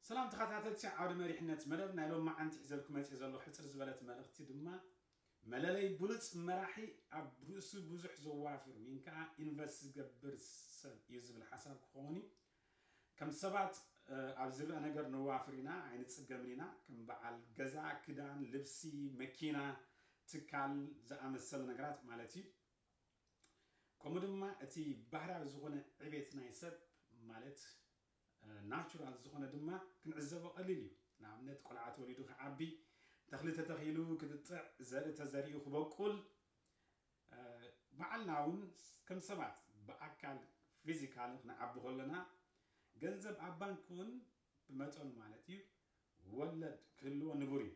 ሰላም ተኸታተልቲ ዓውደ መሪሕነት መደብ ናይ ሎማዓንቲ ሒዘልኩ መጽየ ዘለኹ ሕጽር ዝበለት መልእኽቲ ድማ መለለይ ብሉጽ መራሒ ኣብ ርእሱ ብዙሕ ዘዋፍር ዊን ከኣ ኢንቨስት ዝገብር ሰብ እዩ ዝብል ሓሳብ ክኸውን እዩ ከም ሰባት ኣብ ዝረኣ ነገር ነዋፍር ኢና ኣይንጽገምን ኢና ከም በዓል ገዛ ክዳን ልብሲ መኪና ትካል ዝኣመሰለ ነገራት ማለት እዩ ከምኡ ድማ እቲ ባህርያዊ ዝኾነ ዕቤት ናይ ሰብ ማለት ናቹራል ዝኾነ ድማ ክንዕዘቦ ቀሊል እዩ። ንኣብነት ቆልዓ ተወሊዱ ክዓቢ፣ ተኽሊ ተተኺሉ ክጥጥዕ፣ ዘርኢ ተዘሪኡ ክበቁል፣ ባዕልና እውን ከም ሰባት ብኣካል ፊዚካሊ ክንዓቢ ከሎና፣ ገንዘብ ኣብ ባንክ እውን ብመጠኑ ማለት እዩ ወለድ ክህልዎ ንቡር እዩ።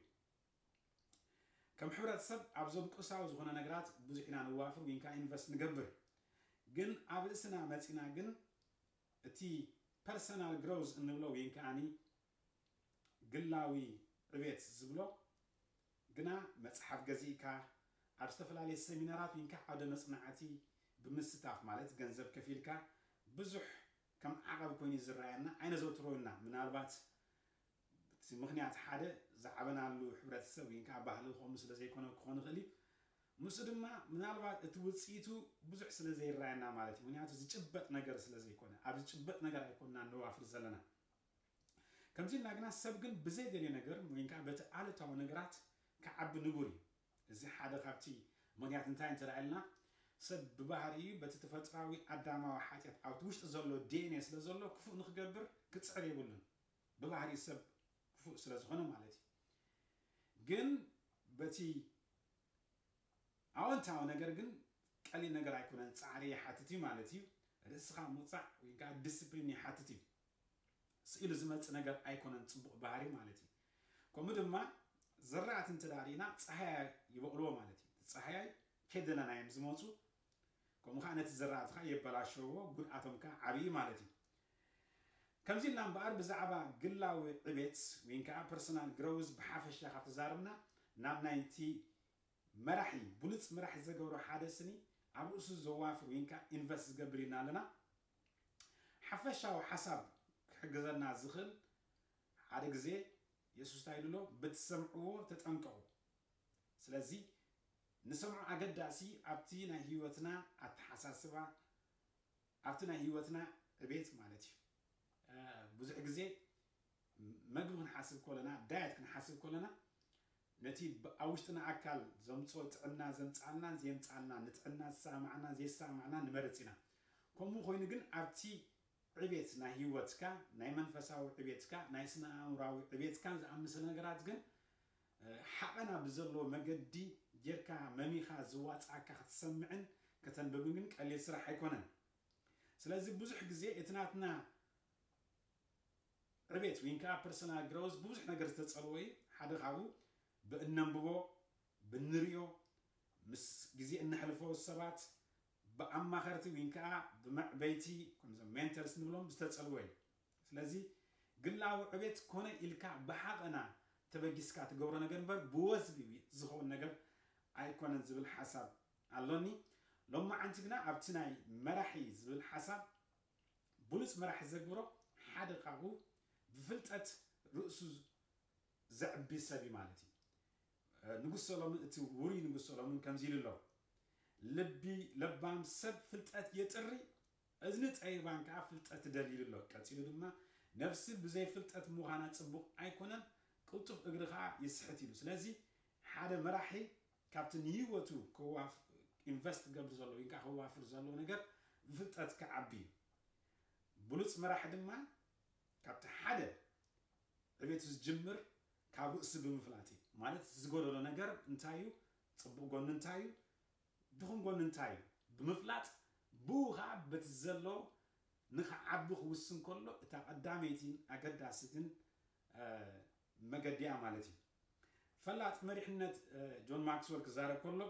ከም ሕብረተሰብ ኣብዞም ቁሳዊ ዝኾነ ነገራት ብዙሕ ኢና ንዋፍር ወይን ከኣ ኢንቨስት ንገብር ግን ኣብ ርእስና መጺና ግን እቲ ፐርሰናል ግሮዝ እንብሎ ወይን ከኣ ግላዊ ዕቤት ዝብሎ ግና መጽሓፍ ገዚእካ ኣብ ዝተፈላለየ ሰሚናራት ወይን ከኣ ዓውደ መጽናዕቲ ብምስታፍ ማለት ገንዘብ ከፊልካ ብዙሕ ከም ዓቐብ ኮይኑ እዩ ዝረኣየና ኣይነዘውትሮ ኢና ምናልባት ብቲ ምኽንያት ሓደ ዝዓበናሉ ሕብረተሰብ ወይ ከኣ ባህሊ ከምኡ ስለ ዘይኮነ ክኾን ይኽእል እዩ። ምስኡ ድማ ምናልባት እቲ ውጽኢቱ ብዙሕ ስለ ዘይረኣየና ማለት እዩ። ምኽንያቱ ዝጭበጥ ነገር ስለ ዘይኮነ። ኣብ ዝጭበጥ ነገር ኣይኮንናን ንዋፍር ዘለና። ከምዚ ኢልና ግና ሰብ ግን ብዘይደልዮ ነገር ወይ ከኣ በቲ ኣሉታዊ ነገራት ክዓቢ ንቡር እዩ። እዚ ሓደ ካብቲ ምኽንያት እንታይ እንተ ኢልና ሰብ ብባህሪኡ በቲ ተፈጥሮኣዊ ኣዳማዊ ሓጢኣት ኣብቲ ውሽጡ ዘሎ ዲኤንኤ ስለ ዘሎ ክፉእ ንኽገብር ክጽዕር የብሉን። ብባህሪ ሰብ ክፉእ ስለ ዝኾነ ማለት እዩ ግን በቲ ኣወንታዊ ነገር ግን ቀሊል ነገር ኣይኮነን ጻዕሪ ይሓትት እዩ ማለት እዩ ርእስኻ ምውጻዕ ወይ ከዓ ዲስፕሊን ይሓትት እዩ ስኢሉ ዝመጽእ ነገር ኣይኮነን ጽቡቕ ባህሪ ማለት እዩ ከምኡ ድማ ዝራእቲ እንተ ርኢና ፀሃያይ ይበቕልዎ ማለት እዩ ፀሃያይ ከደለና እዮም ዝመፁ ከምኡ ከዓ ነቲ ዝራእትኻ የበላሸዎ ጉድኣቶም ከዓ ዓብዪ ማለት እዩ ከምዚ ኢልና እምበኣር ብዛዕባ ግላዊ ዕቤት ወይንከኣ ፐርሰናል ግረውዝ ብሓፈሻ ካብ ተዛርብና ናብ ናይቲ መራሒ ብሉጽ መራሒ ዘገብሮ ሓደ ስኒ ኣብ ርእሱ ዘዋፍር ወይንከኣ ኢንቨስት ዝገብር ኢልና ኣለና። ሓፈሻዊ ሓሳብ ክሕግዘና ዝኽእል ሓደ ግዜ የሱስ እንታይ ኢሉ ኣሎ ብትሰምዕዎ ተጠንቀቑ ስለዚ ንሰምዖ ኣገዳሲ ኣብቲ ናይ ህይወትና ኣተሓሳስባ ኣብቲ ናይ ህይወትና ዕቤት ማለት እዩ። ብዙሕ ግዜ መግቢ ክንሓስብ ኮለና፣ ዳየት ክንሓስብ ኮለና፣ ነቲ ኣብ ውሽጥና ኣካል ዘምጽኦ ጥዕና ዘምጽኣልናን ዘየምጽኣልናን፣ ንጥዕና ዝሰማማዓናን ዘይሰማማዓናን ንመርጽ ኢና። ከምኡ ኮይኑ ግን ኣብቲ ዕቤት ናይ ህይወትካ፣ ናይ መንፈሳዊ ዕቤትካ፣ ናይ ስነ-ኣእምሮኣዊ ዕቤትካን ዝኣመሰለ ነገራት ግን ሓቐና ብዘለዎ መገዲ ጌርካ መሚኻ ዝዋጽኣካ ክትሰምዕን ከተንብብን ግን ቀሊል ስራሕ ኣይኮነን። ስለዚ ብዙሕ ግዜ እቲ ናትና ዕቤት ወይን ከኣ ፐርሰናል ግረውዝ ብብዙሕ ነገር ዝተጸልወ እዩ። ሓደ ካብኡ ብእነንብቦ፣ ብንርእዮ፣ ምስ ግዜ እነሕልፎ ሰባት፣ ብኣማኸርቲ ወይን ከኣ ብመዕበይቲ ከምዞም ሜንተርስ ንብሎም ዝተጸልወ እዩ። ስለዚ ግላዊ ዕቤት ኮነ ኢልካ ብሓቐና ተበጊስካ ትገብሮ ነገር እምበር ብወዝቢ ዝኸውን ነገር ኣይኮነን ዝብል ሓሳብ ኣሎኒ። ሎማዓንቲ ግና ኣብቲ ናይ መራሒ ዝብል ሓሳብ ብሉጽ መራሒ ዘግብሮ ሓደ ካብኡ ብፍልጠት ርእሱ ዘዕቢ ሰብ እዩ ማለት እዩ። ንጉስ ሰሎምን እቲ ውሩይ ንጉስ ሰሎምን ከምዚ ኢሉ ኣሎ ልቢ ለባም ሰብ ፍልጠት የጥሪ እዝኒ ጠቢባን ከኣ ፍልጠት ትደሊ ኢሉ ኣሎ። ቀጺሉ ድማ ነፍሲ ብዘይ ፍልጠት ምዃና ጽቡቕ ኣይኮነን፣ ቅልጡፍ እግሪ ከኣ ይስሕት ኢሉ። ስለዚ ሓደ መራሒ ካብቲ ንህይወቱ ከዋፍ ኢንቨስት ክገብር ዘለዎ ወይን ከኣ ከዋፍር ዘለዎ ነገር ብፍልጠት ክዓቢ እዩ። ብሉጽ መራሒ ድማ ካብቲ ሓደ ዕቤቱ ዝጅምር ካብ ርእሱ ብምፍላጥ እዩ። ማለት እቲ ዝጎደሎ ነገር እንታይ እዩ፣ ጽቡቕ ጎኑ እንታይ እዩ፣ ድኹም ጎኒ እንታይ እዩ ብምፍላጥ ብኡ ኸኣ በቲ ዘለዎ ንኽዓቢ ክውስን ከሎ እታ ቀዳመይቲን ኣገዳሲትን መገዲ'ያ ማለት እዩ። ፈላጥ መሪሕነት ጆን ማክስወል ክዛረብ ከሎ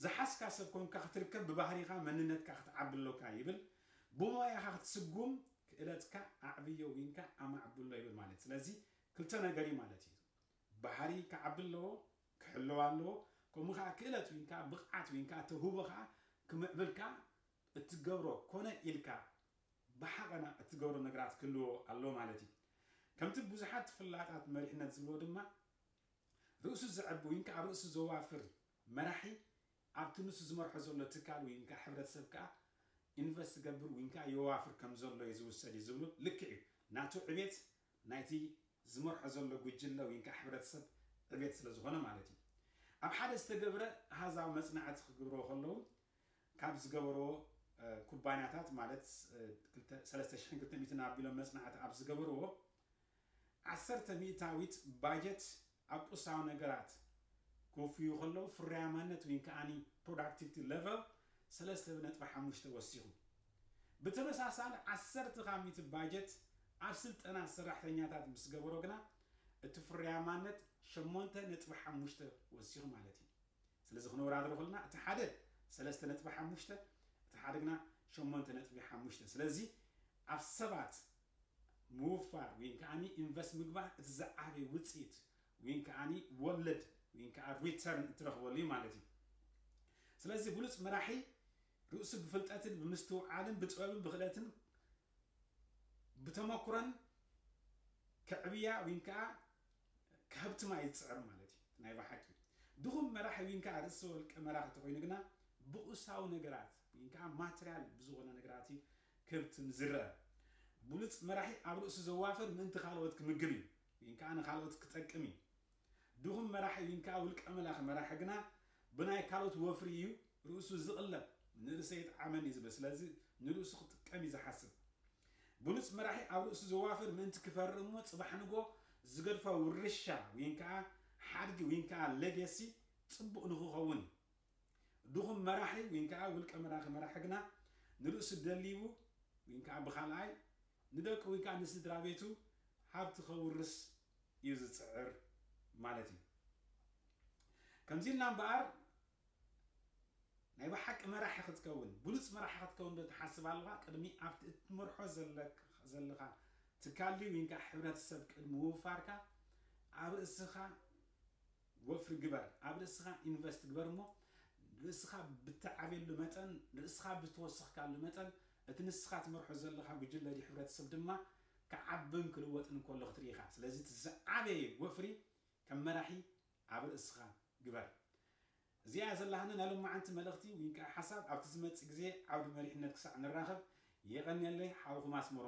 ዝሓዝካ ሰብ ኮንካ ክትርከብ ብባህሪኻ መንነትካ ክትዓቢ ኣሎካ ይብል። ብሞያኻ ክትስጉም ክእለትካ ኣዕብዮ ዊንካ ኣማዕብሎ ይብል ማለት ስለዚ ክልተ ነገር እዩ ማለት እዩ። ባህሪ ክዓቢ ኣለዎ ክሕለው ኣለዎ ከምኡ ከኣ ክእለት ውንካ ብቅዓት ውንካ ተውህቦካ ክምዕብልካ እትገብሮ ኮነ ኢልካ ብሓቐና እትገብሮ ነገራት ክህልዎ ኣለዎ ማለት እዩ ከምቲ ብዙሓት ፍላጣት መሪሕነት ዝብልዎ ድማ ርእሱ ዘዕቢ ውንካ ርእሱ ዘዋፍር መራሒ ኣብቲ ንሱ ዝመርሖ ዘሎ ትካል ውንካ ሕብረተሰብ ከኣ ኢንቨስት ዝገብር ውንካ የዋፍር ከምዘሎ እዩ ዝውሰድ እዩ ዝብሉ ልክዕ እዩ ናቱ ዕቤት ናይቲ ዝመርሖ ዘሎ ጉጅለ ወይንከዓ ሕብረተሰብ ዕቤት ስለዝኾነ ማለት እዩ። ኣብ ሓደ ዝተገብረ ኣሃዛዊ መጽናዕቲ ክግብርዎ ከለዉ ካብ ዝገበርዎ ኩባንያታት ማለት ክልተ ሰለስተ ሽሕን ክልተ ሚእትን ኣቢሎም መጽናዕቲ ኣብ ዝገበርዎ ዓሰርተ ሚእታዊት ባጀት ኣብ ቁሳዊ ነገራት ክውፍዩ ከለዉ ፍርያማነት ወይን ከኣኒ Productivity Level ሰለስተ ነጥቢ ሓሙሽተ ወሲኹ። ብተመሳሳሊ ዓሰርተ ካብ ሚእቲ ባጀት ኣብ ስልጠና ሰራሕተኛታት ምስ ገበሮ ግና እቲ ፍርያማነት ሸሞንተ ነጥቢ ሓሙሽተ ወሲኹ ማለት እዩ። ስለዚ ክነወዳድሮ ከለና እቲ ሓደ ሰለስተ ነጥቢ ሓሙሽተ እቲ ሓደ ግና ሸሞንተ ነጥቢ ሓሙሽተ ስለዚ ኣብ ሰባት ምውፋር ወይንከዓ ኢንቨስት ምግባር እቲ ዝዓበየ ውፅኢት ወይንከዓ ወለድ ወይንከዓ ሪተርን እትረኽበሉ እዩ ማለት እዩ። ስለዚ ብሉፅ መራሒ ርእሱ ብፍልጠትን ብምስትውዓልን ብጥበብን ብክእለትን ብተመኩሮን ከዕብያ ወይንከዓ ከሀብትማ እዩ ዝፅዕር ማለት እዩ። ናይ ብሓቂ ድኹም መራሒ ወይንከዓ ርእሰ ወልቀ መራኺ ተኾይኑ ግና ብቑሳዊ ነገራት ወይንከዓ ማትሪያል ብዝኾነ ነገራት እዩ ክብት ንዝረኣ ብሉጽ መራሒ ኣብ ርእሱ ዘዋፈር ምእንቲ ካልኦት ክምግብ እዩ ዊን ከኣ ንካልኦት ክጠቅም እዩ ድኹም መራሒ ዊን ከኣ ውልቀ መላኺ መራሒ ግና ብናይ ካልኦት ወፍሪ እዩ ርእሱ ዝቅለብ ንርእሰ ኣይጥዓመኒ ዝብል ስለዚ ንርእሱ ክጥቀም እዩ ዝሓስብ ብሉጽ መራሒ ኣብ ርእሱ ዘዋፍር ምእንቲ ክፈሪ እሞ ጽባሕ ንጎ ዝገድፎ ውርሻ ዊን ከኣ ሓድጊ ዊን ከኣ ለገሲ ጽቡቅ ንክኸውን እዩ ድኹም መራሒ ዊንከኣ ውልቀ መላኺ መራሒ ግና ንርእሱ ደሊቡ ዊንከኣ ብኻልኣይ ንደቁ ዊንከኣ ንስድራቤቱ ሃብቲ ከውርስ እዩ ዝጽዕር ማለት እዩ። ከምዚ ኢልና እምበኣር ናይ ብሓቂ መራሒ ክትከውን ብሉጽ መራሒ ክትከውን ዶ ትሓስብ ኣሎኻ? ቅድሚ ኣብቲ እትመርሖ ዘለኻ ትካል ድዩ ዊንከኣ ሕብረተሰብ ቅድሚ ምውፋርካ ኣብ ርእስኻ ወፍሪ ግበር ኣብ ርእስኻ ኢንቨስት ግበር እሞ ርእስኻ ብትዓብየሉ መጠን ርእስኻ ብተወሰኽካሉ መጠን እቲ ንስኻ ትመርሖ ዘለኻ ጉጅለ ድዩ ሕብረተሰብ ድማ ክዓብን ክልወጥን እንከሎ ክትርኢ ኢኻ ስለዚ እቲ ዝዓበየ ወፍሪ ከም መራሒ ኣብ ርእስኻ ግበር እዚኣ እያ ዘላትኒ ናይ ሎማዓንቲ መልእኽቲ ዊንከኣ ሓሳብ ኣብቲ ዝመጽእ ግዜ ዓውዲ መሪሕነት ክሳዕ ንራኸብ የቐንየለይ ሓውኹም ኣስመሮም